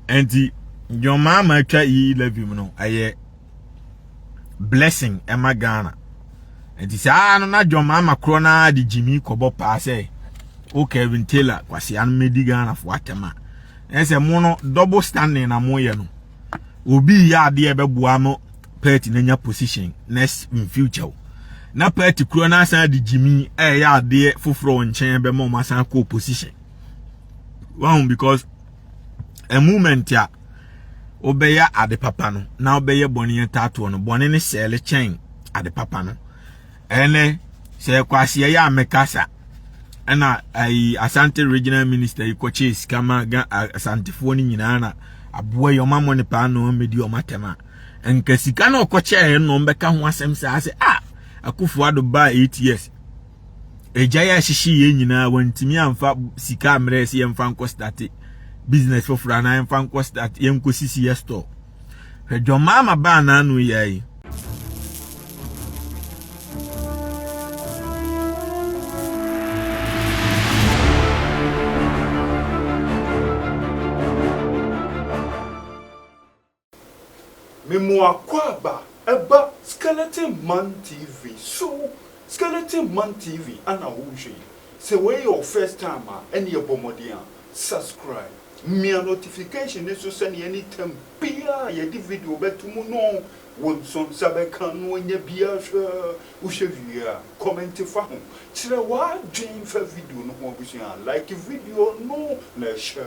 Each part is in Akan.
Enti John Mahama atwa yi levy mu no ɛyɛ blessing ɛma Ghana. Enti saa no na John Mahama korɔ no ara de gyimi kɔbɔ paa sɛ o Kevin Taylor kwasea no medi Ghana fo atɛm a ɛsɛ mo no double standing na mo yɛ no obi yɛ adeɛ ɛbɛboa mo party na nya position next in future na party korɔ no asan de gyimi ɛyɛ adeɛ foforɔ nkyɛn bɛma ɔmo asan kɔ position wɔn because a moment a wobɛyɛ ade papa no na wobɛyɛ bɔne atatoɔ no bɔne no sɛɛle kyɛn ade papa no ɛnɛ sɛ ɛkɔ aseɛ yɛ a mɛkasa ɛna ayi asante regional minister yi kɔkyee sika ma asantefoɔ no nyinaa na aboa yi ɔma mo ne paa na ɔmmɛdi ɔma tɛm a nka sika na ɔkɔkyɛɛ no ɔmbɛka ho asɛm saa sɛ a ah, akufo ado baa eight years agyae ahyehye yɛn nyinaa wɔntumi amfa sika mmerɛ sɛ yɛmfa nkɔ state business foforɔ anaa yɛmfa nkɔ state yɛnkɔ sisi yɛ store hwɛ dwɔmaa ma baa n'ano yɛ yi Memu Akwaaba ɛba skeleton man TV so skeleton man TV ana wo hwɛ yi sɛ wei yɛ wo first time a ɛneɛ bɔ mmɔden a subscribe mia notification no so sɛneɛ any time biaa a yɛde video bɛto mu no wo nso nsa bɛka no ɔnya biaa hwɛ wo hwɛ wie a comment fa ho kyerɛ w'adwen fa video no ho abusua like video no na hyɛ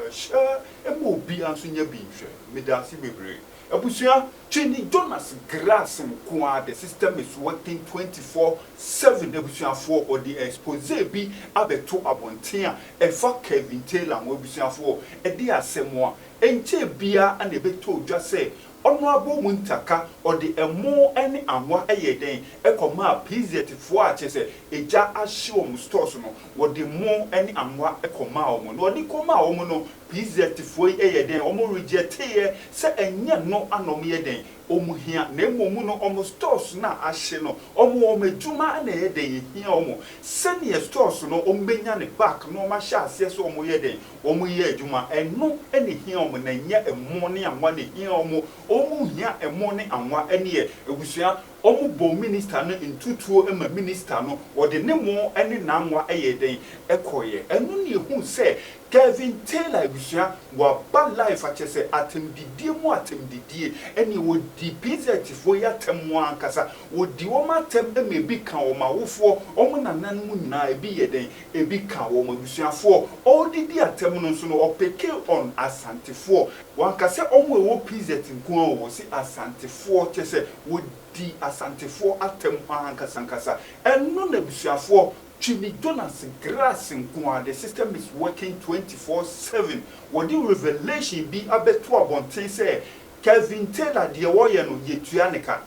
hyɛ Mma obiara nso nyɛ bi nhwɛ. Medaase bebree abusua twe ne Jonas Grass nko ara the system is working twenty four seven abusuafoɔ ɔde expose bi abɛto abɔnten a ɛfa Kevin Taylor ho abusuafoɔ ɛde asɛm a ɛnkyɛɛ biara na ɛbɛtɔɔ dwa sɛ ɔno abom ntaka ɔde ɛmo ne anwa ɛyɛɛ dɛn ɛkɔmaa PZfoɔ a kyerɛ sɛ egya ahye wɔn stores no Wɔde mmo ne anwa kɔmaa wɔn, na wɔde kɔmaa wɔn no, PZfoɔ yi yɛ dɛn? Wɔn regyɛteeɛ sɛ ɛnyɛ nno a na wɔyɛ dɛn? Wɔn hia, na mmom no wɔn stores no a ahye no, wɔn wɔn adwuma na ɛyɛ dɛn? Ɛhia wɔn. Sɛdeɛ stores no wɔn bɛnya no back na wɔn ahyɛ aseɛ sɛ wɔn yɛ dɛn? Wɔn reyɛ adwuma. Ɛno na ɛhia wɔn, na ɛnyɛ mmo ne anwa na ɛhia wɔn. Wɔn hia mmo ne anwa. Ɛnneɛ abusua, Wɔbɔɔ minista no ntutuo ma minista no, wɔde ne mo ne n'anwa yɛɛ dɛn? Ɛkɔeɛ. Ɛno na yɛhunu sɛ Kevin Taylor abusua, wɔaba life a, kyerɛ sɛ atɛmdidie mu atɛmdidie, ɛnneɛ wɔdi PZfoɔ yi atɛm ankasa, wɔdi wɔn atɛm ma ɛbi ka wɔn awofoɔ, wɔn nananom nyinaa, ɛbi yɛ dɛn? Ɛbi ka wɔn abusuafoɔ. Ɔde di atɛm no nso no, ɔpeke on Asantefoɔ. Wanka sɛ wɔn a ɛwɔ PZ nko ara o, ɔse Asantefoɔ, kyerɛ sɛ wɔdi Asantefoɔ atam hɔ ara ankasankasa. Ɛno na abusuafoɔ Twini Jonas Grace nko ara, the system is working twenty four seven. Wɔde revelation bi abɛto abɔnten sɛ Kelvin Taylor deɛ ɔyɛ no yɛtua ne ka.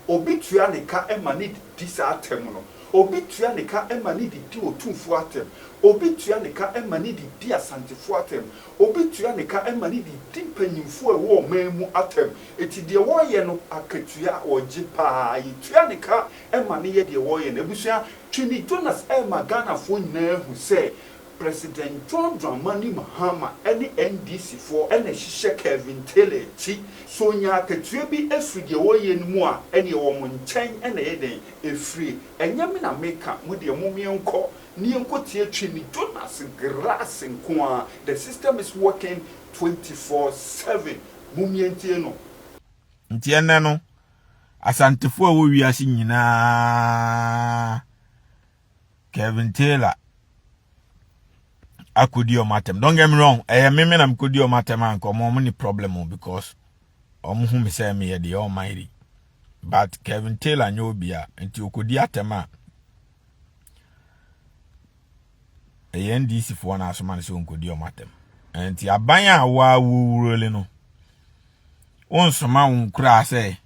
Obi tua ne ka ma ne de di saa atam no. Obi tua ne ka ma ne de di Otumfoɔ atam. Obi tua ne ka ma ne de di Asantefoɔ atam. Obi tua ne ka ma no de di mpanyimfo a ɛwɔ ɔman mu atɛm. Enti deɛ wɔreyɛ no, akatua a wɔgye pa ara, yɛtua no ka ma no yɛ deɛ wɔreyɛ no. Abusua, Twene Jonas rema Ghanafoɔ nyinaa ahu sɛ President John Dramani Mahama ne NDC foɔ na ɛhyehyɛ Kelvin Taylor akyi. Sɛ ɔnya akatua bi firi deɛ wɔreyɛ no mu a, ɛneɛ wɔn nkyɛn na ɛyɛ dɛn? Ɛfire. Ɛnyɛ me na meka, mo deɛ mommeɛ nkɔ. Ne yɛnkɔteɛ twi ne Jonas Grass nko ara, the system is working twenty four seven, mommie ntie no. Nti ɛnnɛ no, Asantefoɔ a ɛwɔ wiase nyinaa, Kevin Taylor akɔdi wɔn atɛm. Don't get me wrong, ɛyɛ me me na mekɔdi wɔn atɛm a nka wɔn ne problem o because wɔn hu me sɛ meyɛ deɛ wɔn ayiri. But Kevin Taylor nyɛ obi a, nti ɔkɔdi atɛm a, ɛyɛ ndc foɔ na asoma no sɛ ɔnkɔdi ɔm atɛm nti aban a woa wowurole no wonsoma wo nkoraa sɛ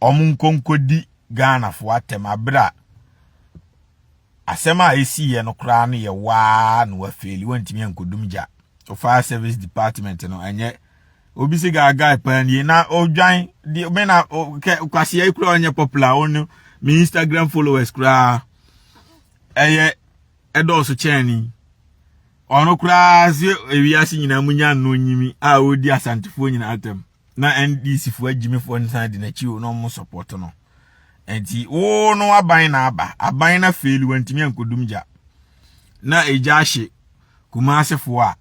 ɔm nkɔnkɔdi ghanafoɔ atɛm aberɛ a asɛm a ɛsiiɛ no koraa no yɛ waa na wafeeli wantumi ankɔdum gya wofaa service department no ɛnyɛ obi si gaa guy paa nie na odwan di me na kɛ kwasia yi kura ɔnyɛ popular wɔn no me instagram followers koraa ɛyɛ ɛdɔɔso kyɛn ni ɔno koraa se ewiase nyinaa mu nya no nyimi a ɔdi asantefoɔ nyinaa atɛm na ndc foɔ agyimifoɔ nsan di n'akyi o na ɔmo sɔpɔto no nti wo no aban na aba aban na feeli wɔntumi ankɔdum gya na egya ahye kumaasefoɔ a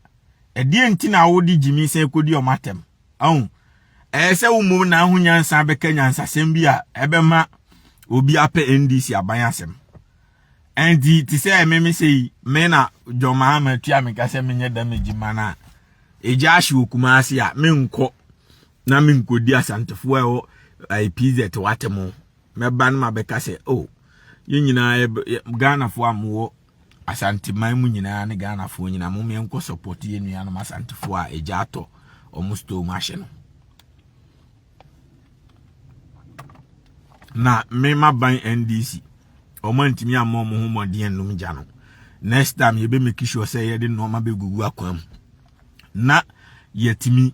ɛdeɛn nti na wode gyimi sɛ ɛkɔdi ɔma atɛm ahu ɛyɛ sɛ wo mmom na ho nyansa bɛka nyansasɛm bi a ɛbɛma obi apɛ ndc aban asɛm ɛnti te sɛ meme sɛ yi me na dwɔmaa ma atua me ka sɛ menyɛ dam agyima no a ɛgya ahye wɔ kuma ase a menkɔ na menkɔdi asantefoɔ a ɛwɔ pz watɛm mɛba no mabɛka sɛ o oh, yɛn nyinaa ghanafoɔ a mowɔ Asanteman mu nyinaa ne Ghanafoɔ nyinaa mom yɛn kɔ support yɛn nuanom Asantefoɔ a egya atɔ wɔn store mu ahye no. Na mema ban NDC wɔn antumi amma wɔn ho mmɔden anum gya no. Next time yɛbɛ make sure sɛ yɛde nneɛma bɛgugu akwan mu na yɛtumi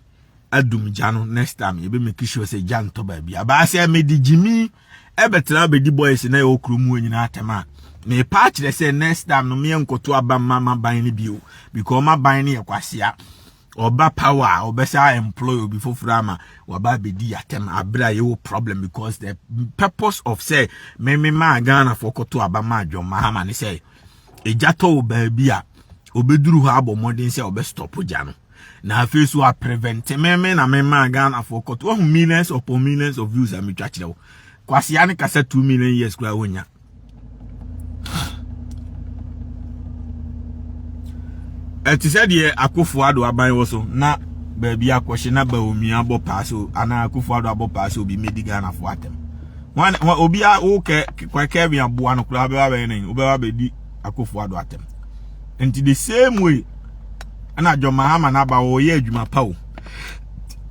adum gya no next time yɛbɛ make sure sɛ gya ntɔ baabi. Abaa sɛ mede gyimi ɛbɛtena abɛdi boys na ɛwɔ kurom hɔ nyinaa atɛm a mepa akyerɛ sɛ next time no meɛ nkɔto aba mma maban no bio because maban no yɛ kwasea ɔba power a ɔbɛsa employ obi foforɔ ama waba abɛdi yɛatɛm aberɛ a yɛwɔ problem because the purpose of sɛ meme maa ghanafoɔ kɔto aba ma adwɔn mahama ne sɛ ɛgya tɔ wɔ baabi a ɔbɛduru hɔ abɔ mmɔden sɛ ɔbɛstɔpo gya no na afei nso a prevent me me na me maa Ghana for court wahu millions upon millions of views a metwa kyerɛ wo kwasea ne kasa 2 million years kura wonya ɛte sɛ deɛ akofo ado aban wɔ so na baabi akɔhye na baomi abɔ paa so anaa akofo ado abɔ paa so obi medi Ghana fo atɛm obi a wokɛ kɛbi aboa no koraa wobɛba bɛyɛ ne wobɛba bɛdi Akufo Addo atɛm nti the same way ɛna John Mahama n'aba wɔyɛ adwuma pa o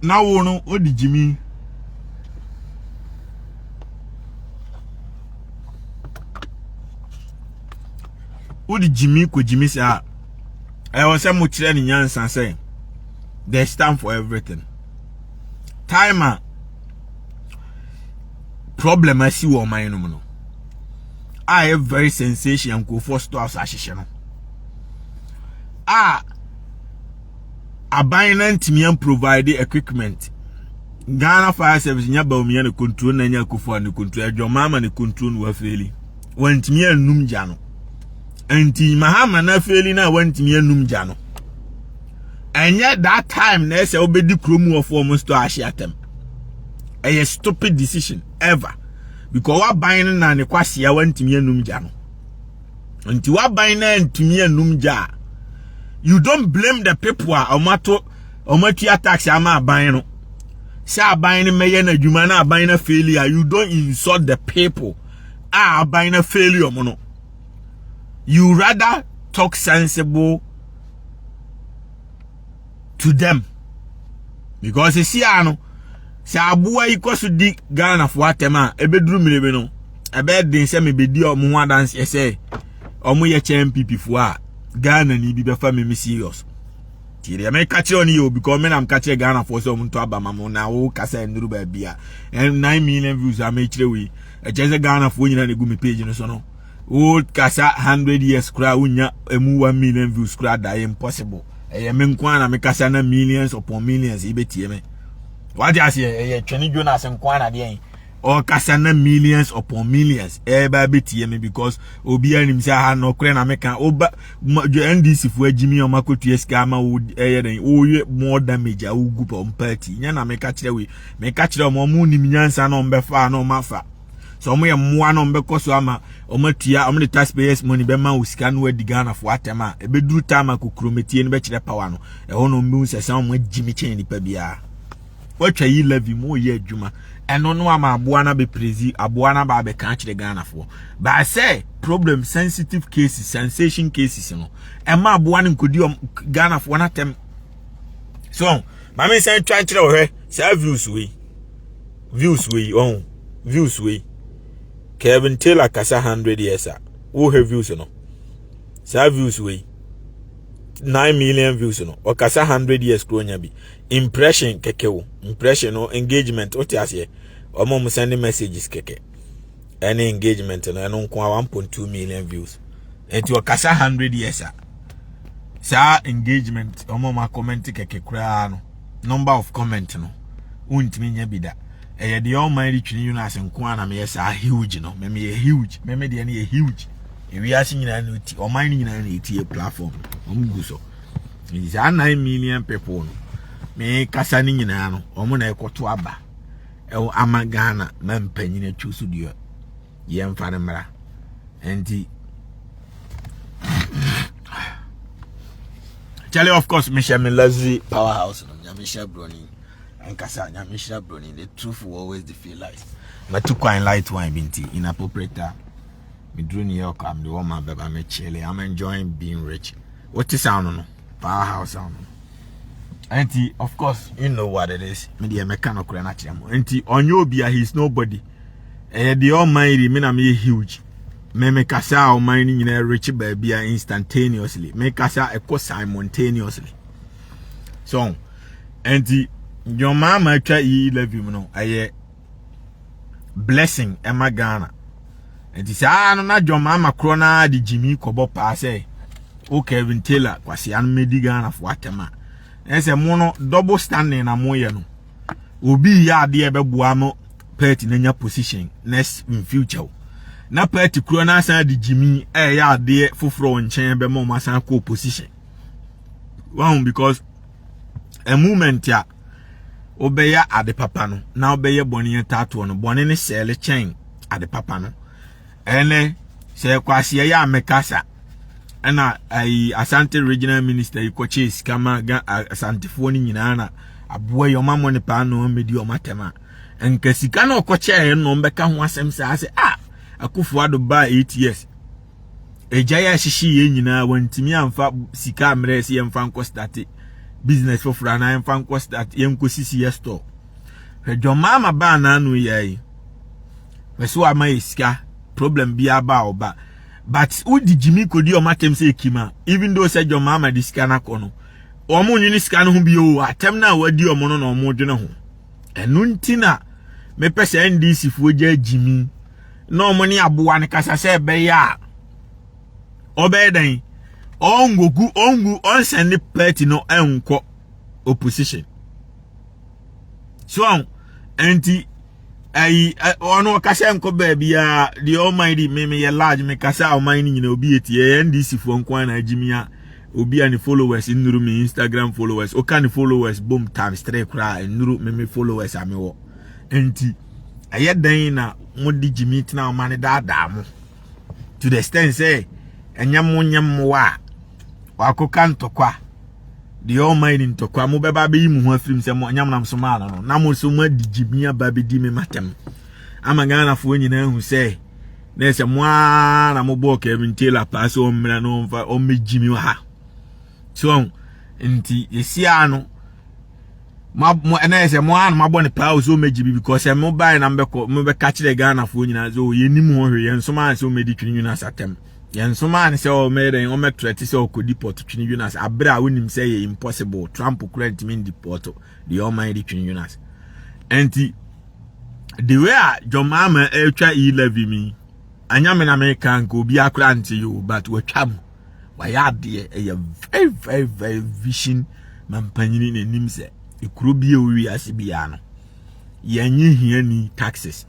na wo no wodi gyimi wodi gyimi kɔ gyimi saa ɛwɔ sɛ mo kyerɛ ne nyansa sɛ there's time for everything time a problem asi wɔ ɔman no mu no a ɛyɛ very sensation nkurɔfoɔ stores ahyehyɛ no a aban no ntumi an provide equipment ghana fire service nya baumia ne control na nya akufo ne control adwama ama ne control no wafeeli wantumi anum gya no nti mahama no afeeli no a wantumi anum gya no ɛnyɛ that time na ɛsɛ wobɛdi kurom wɔfoɔ mo store ahye atɛm ɛyɛ stupid decision ever because waban no na ne kwasia wantumi anum gya no nti waban no antumi anum gya a you don't blame the people a ɔmato ɔmatua tax ama aban no sɛ aban no mɛyɛ no adwuma na aban no faili a you don't insult the people a aban no faili ɔmo no you rather talk sensible to them because sisi a no sɛ aboa yi kɔ so di ghanafoɔ atɛm a ɛbɛduru mmere bi no ɛbɛyɛ den sɛ mebɛdi ɔmo ho adanseɛ sɛ ɔmo yɛ kyɛ npp foɔ a ghana ni bi bɛfa me me serious nti deɛ meka kyerɛ ɔno yɛ obi kɔ me nam ka kyerɛ ghanafoɔ sɛ ɔmo nto aba ma mo na wo kasa nnuru baabi a 9 million views a mekyerɛ wei ɛkyɛ sɛ ghanafoɔ nyina na ɛgu me page no so no old kasa hundred years koraa wonya emu one million views koraa da impossible ɛyɛ me nko ara na me kasa na millions upon millions yi bɛtie me wate aseɛ ɛyɛ twene jonas nko ara na deɛ ɔkasa na millions upon millions ɛba bɛtie me because obiara nim sɛ aha nɔkorɛ na meka woba ndc foɔ agyimi ɔma kɔtua sika ama wo ɛyɛ dɛn woyɛ more damage a wogu pɔ mpa ati nyɛ na meka kyerɛ wei meka kyerɛ ɔma ɔmo nim nyansa na ɔmbɛfa na ɔmafa sɛ wɔn yɛ mmoa no wɔn bɛkɔ so ama wɔn atua wɔn de taxpayers money bɛma wo sika no adi ghana fo atɛm a ɛbɛduru time a kokurometie no bɛkyerɛ power no ɛhɔ na wɔn bɛhu sɛ sɛ wɔn agyi me kyɛn nipa biara wɔatwa yi levy mu wɔyɛ adwuma ɛno no ama aboa no abɛprezi aboa no aba abɛka akyerɛ ghana foɔ baa sɛ problem sensitive cases sensation cases no ɛma aboa no nkɔdi ghana foɔ no atɛm so maame nsan twa nkyerɛ wɔhwɛ saa views wei views wei ɔn views wei Kevin Taylor kasa hundred years a wohwɛ views no saa views wei nine million views no ɔkasa hundred years kuro nya bi impression kɛkɛ o impression no engagement o te aseɛ ɔmo ɔmo send messages kɛkɛ. ɛne engagement no ɛno nko a 1.2 million views ɛti ɔkasa 100 years a saa engagement ɔmo ɔmo akɔmɛnti kɛkɛ koraa no number of comment no wontumi nya bi da ɛyɛ deɛ ɔman de twene yunas nko a na meyɛ saa huge no mɛmɛ yɛ huge mɛmɛ deɛ no yɛ huge ewiase nyinaa na eti ɔman no nyinaa na eti yɛ platform ɔmo gu so saa nine million people no mekasa no nyinaa no ɔmo na ɛkɔto aba ɛwɔ ama ghana ma mpanyin atwi so deɛ yɛmfa no mmra nti kyɛlɛ of course mehyɛ me luxury power house no nyame hyɛ broni ankasa nyame hyɛ broni the truth will always defeat lies matu kwan light wine bi nti inappropriate time meduru new york a mede wɔ ma bɛba mekyele i'm enjoying being rich wote sound no powerhouse a ɔno nti of course you know what it is me deɛ mɛka no korɛ no akyerɛ mo nti ɔnyɛ obi a he is nobody ɛyɛ deɛ ɔman yi me na meyɛ huge me me kasa a ɔman no nyinaa rekye baabi a instantaneously me kasa ɛkɔ simultaneously so nti dwɔmaa ma atwa yi eleven no ɛyɛ blessing ɛma ghana nti saa no na dwom ama korɔ no ara de gyimi kɔbɔ paa sɛ o kevin taylor kwasea no mɛdi ghanafoɔ atɛm a ɛsɛ mo no double standing na moyɛ no obi yɛ adeɛ bɛboa mo party no anya position next in future na party korɔ no asan de gyimi ɛyɛ adeɛ foforɔ nkyɛn bɛma ɔmo asan kɔ position wɔn because a movement a wobɛyɛ ade papa no na wobɛyɛ bɔne atatoɔ no bɔne ne sɛɛle kyɛn ade papa no ɛnɛ sɛ kwaseɛ yɛ a mekasa ɛna ayi asante regional minister yi kɔkyee sika ma ga asantefoɔ no nyinaa na aboa yi ɔma mo ne paa na ɔmmɛdi ɔma atɛm a nka sika na ɔkɔkyɛɛ no ɔmbɛka ho asɛm saa sɛ a ah, akufo ado baa eight years agyae ahyehye yɛn nyinaa wɔntumi amfa sika mmerɛ sɛ yɛmfa nkɔ starte business foforɔ anaa yɛmfa nkɔ start yɛnkɔ sisi yɛ store hwɛ dwɔmaa ma baa n'ano yɛ yi hwɛ so ama yɛ sika problem bi aba a ɔba but wodi gyimi kodi ɔmo atɛm sɛ ekima even though sɛ dwɔmaa ma de sika no akɔ no ɔmo nwene sika no ho bi o atɛm no a wadi ɔmo no na ɔmo dwene ho ɛno nti na mepɛ sɛ ndc foɔ gya gyimi na wɔn ne aboa no kasa sɛ ɛbɛyɛ a ɔbɛyɛ dɛn ɔngogu ɔngu ɔnsɛn ne party no ɛnkɔ opposition so ɛnti ayi ɔno ɔkasa nkɔ baabi a deɛ ɔman di me meyɛ large me kasa a ɔman no nyina obi etie ɛyɛ ndc foɔ nko ara na agye mi a obi a ne followers nnuru me instagram followers ɔka ne followers bom times three koraa nnuru me me followers a mewɔ Enti, ɛyɛ dɛn na mode gyimi tena ɔma no daadaa mo? To the extent sɛ ɛnyɛ mo nyɛ mmoa a wakɔka ntɔkwa deɛ ɔma ni ntɔkwa mobɛba abɛyi mo ho afirim sɛ mo ɛnyɛ monam so maa no no na mo so moadi gyimi aba bɛdi me matɛm ama ghanafoɔ nyinaa hu sɛ na ɛsɛ mo ara na mobɔɔ kevin taylor paa sɛ ɔmmra no ɔmfa ɔmmɛgyi me wɔ ha so nti yɛsiaa no ma mo ɛna yɛ sɛ mo ara na mo abɔ ne paa o sɛ ɔmɛgye bi because sɛ mo bae na mobɛkɔ mobɛka kyerɛ ghanafoɔ nyinaa sɛ o yɛnim ho hwee yɛn nso maa sɛ ɔmɛdi twene yunas atɛm yɛn nso maa ne sɛ ɔmɛyɛ dɛn ɔmɛtrɛ te sɛ ɔkɔdi pɔt twene yunas aberɛ a wonim sɛ yɛ impossible trump kura ntumi ndi pɔt deɛ ɔman de twene yunas ɛnti the way a john mahama ɛretwa e-levy mi anyame na meka nka obi akora nte yi o but watwa mu wayɛ adeɛ ɛyɛ very very very vision ma mpanyini na anim sɛ ekuro bi a owi ase biara no yɛnye hiani taxes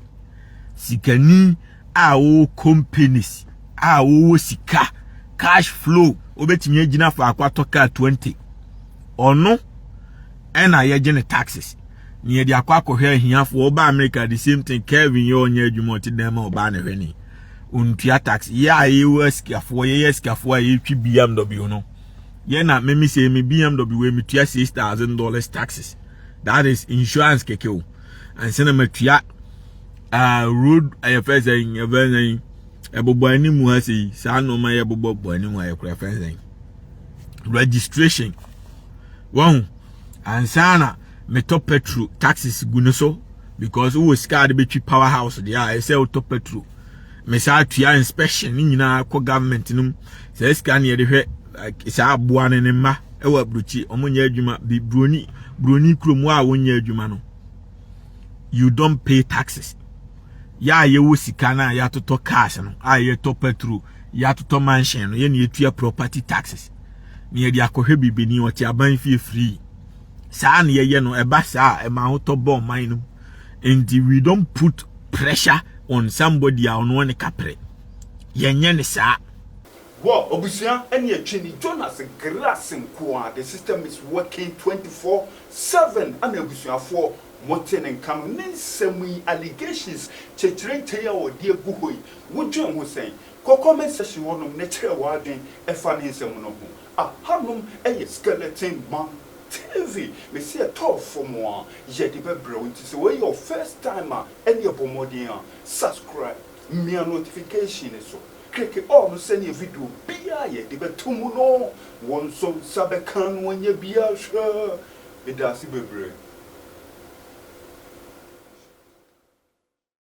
sikani a wɔwɔ companies a wɔwɔ sika cash flow obetumi agyina faako atɔ kaa 20 ɔno ɛna yɛgye ne taxes na yɛde akɔ akɔhwɛ ahiafoɔ ɔba america the same thing kevin yɛ ɔnyɛ adwuma ɔte dan ma ɔbaa na hwɛ ne ɔntua tax yɛ a yɛwɔ asikafoɔ yɛyɛ asikafoɔ a yɛtwi bmw no yɛ na meme sɛ me bmw wei metua six thousand dollars taxes that is insurance kɛkɛ o ansa na matua uh, road ɛyɛ fɛ sɛ ɛfɛ sɛ ɛbobɔ anim ha sɛ yi saa nneɛma yɛ bobɔ bɔ anim ha yɛ kora fɛ sɛ registration wɔn ansa na metɔ petrol taxes gu no so because wowɔ sika de bɛtwi power house deɛ a ɛsɛ wotɔ petrol mesaa tua inspection ne nyinaa kɔ government no mu saa sika ne yɛde hwɛ saa aboa ne ne mma ɛwɔ aburokyi ɔmo nyɛ adwuma bi buroni buroni kurom a wɔnyɛ adwuma no you don't pay taxes yɛ a yɛwɔ sika no a yɛatotɔ cars no a yɛtɔ petrol yɛatotɔ manhyɛn no yɛne yɛtua property taxes na yɛde akɔhwɛ biribini ɔte aban fie firii saa na yɛyɛ no ɛba saa a ɛma ahotɔ bɔ ɔman no nti we don't put pressure on somebody a ɔno ne kaprɛ yɛnyɛ ne saa Wɔ obusua ɛne ɛtwi ni Jonas Grace nkoaa the system is working 24 7 ɛna abusuafoɔ mote ne nka no ne nsɛm yi allegations kyekyere ntɛn a ɔde agu hɔ yi Wudwen ho sɛn? Kokoam nsasi hɔnom na kyerɛ w'adwene fa ne nsɛm no ho. A Hanom yɛ Skeleton Man TV. Mese ɛtɔɔ fam a, yɛde bɛbrɛ wo. Nti sɛ wei yɛ wo first time a, ɛneɛ bɔ mmɔden a subscribe. Mia notification no so. Kleke all no sɛdeɛ video biara a yɛde bɛto mu no, wo nso nsa bɛka na woanya bi ahwɛ. Medaase bebree.